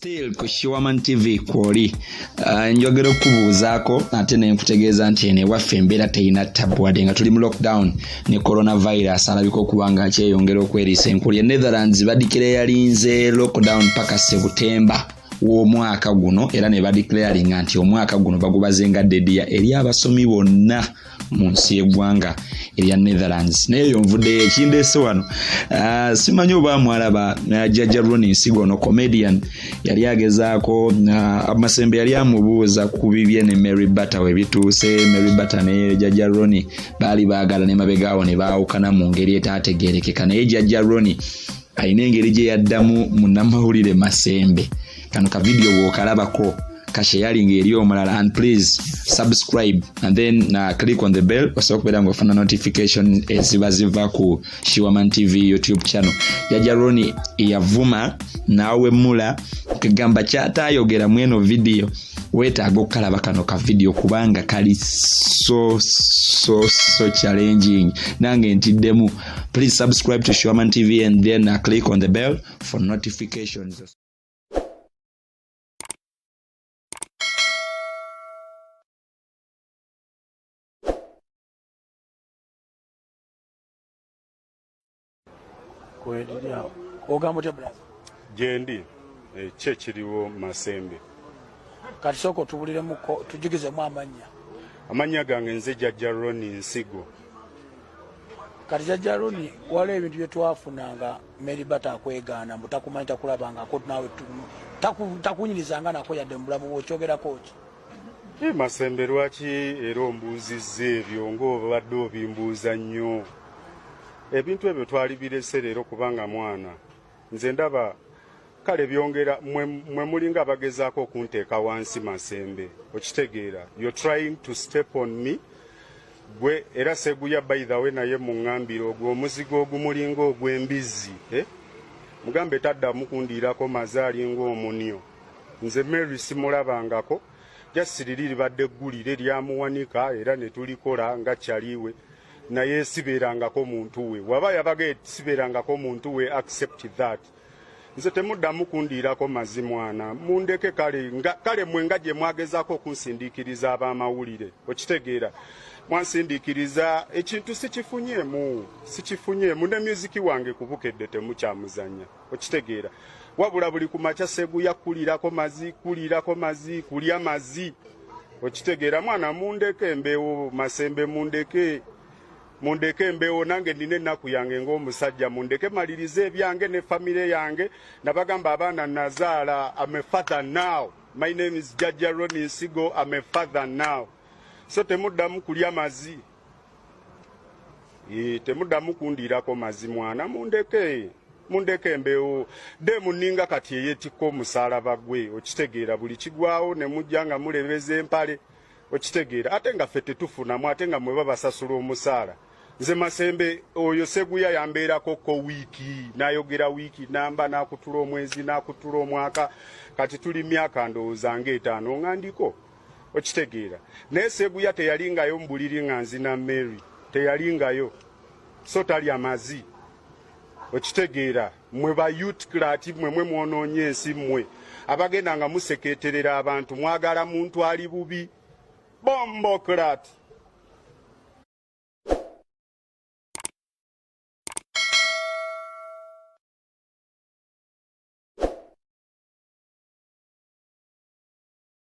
still ku shiwaman tv kwoli uh, njogera okubuuzaako ate nenkutegeeza nti eno ewaffe embeera terina tabu wadde nga tuli mu lockdown ne coronavirus alabika okuba nga kyeyongera okweriisa enkulu ye netherlands badikira eyalinze lockdown paka sebutemba w'omwaka guno era ne badeclaringa nti omwaka guno bagubazenga dediya eri abasomi bonna mu nsi y'eggwanga erya netherlands naye eyo nvuddeyo ekindeese wano ah, simanyi oba mwalaba ah, jajja roni nsigo ono comedian yali agezaako ah, amasembe yali amubuuza ku bibye ne mary batter webituuse mary batter ne jajja roni baali baagala ne mabegaawo ne baawukana mu ngeri etaategeerekeka naye jajja roni alina engeri gye yaddamu munnamawulire masembe kano ka video bwokalabako ka sharing eri omulala and please subscribe and then na uh, click on the bell osobola okubeera nga ofuna notification eziba ziva ku shiwaman tv youtube channel jaja roni yavuma nawemula kagamba kyatayogera mweno video wetaaga okukalaba kano ka video kubanga kali so so so challenging nange ntiddemu please subscribe to shiwaman tv and then na uh, click on the bell for notifications kweliri awo ogamba otya bulaza gyendi eh, ki ekiriwo masembe kati sooka otubuliremuko tujugizemu amannya amannya gange nze jajja roni nsigo kati jajja roni waliwo ebintu byetwafunanga Mary Bata akwegaana mbu takumanyi takulabangako naawe takunyirizanga nako yadde mu bulamu bwokyogerako ki e masembe lwaki era ombuuzizza ebyo ng'obadde obimbuuza nnyo ebintu ebyo twali birese leero kubanga mwana nze ndaba kale byongera mwe mulinga abagezaako okunteeka wansi masembe okitegeera you're trying to step on me gwe era seguya by the way naye muŋambira ogwo omuzigo ogumulinga ogw'embizzi eh? mugambe taddamu kundiirako maze alinga omunyo nze mary simulabangako jasiriri libadde eggulire lyamuwanika era ne tulikola nga kyaliwe naye sibeerangako muntu we waba yabaga sibeerangako muntu we accept that nze temuddamu kundiirako mazi mwana mundeke kale kale mwe nga gye mwagezaako okunsindiikiriza ab'amawulire okitegeera mwansindiikiriza ekintu sikifunyeemu sikifunyeemu ne myuziki wange ku bukedde temukyamuzanya okitegeera wabula buli ku makya seguya kulirako mazi kulirako mazi kulya mazi okitegeera mwana mundeke embeewo masembe mundeke mundeke embeewo nange nina ennaku yange ng'omusajja mundeke malirize ebyange ne famire yange nabagamba abaana nazaala am a father now my name is jajja roni nsigo am a father now so temuddamu kulya mazi e, temuddamu kundiirako mazi mwana mundeke mundeke embeewo de muninga kati eyetikka omusalaba gwe okitegeera buli kigwawo ne mujja nga mulebeza empale okitegeera ate nga ffe tetufunamu ate nga mwe babasasula omusaala nze masembe oyo seguya yambeerako ko wiiki nayogera wiiki namba nakutula omwezi nakutula omwaka kati tuli myaka ndowooza nga etaano nga ndiko okitegeera naye seguya teyalingayo mubuliri nga nzina mary teyalingayo so talya mazi okitegeera mwe ba youth klati mwe mwe mwonoonye ensi mwe abagenda nga museketerera abantu mwagala muntu ali bubi bombo klati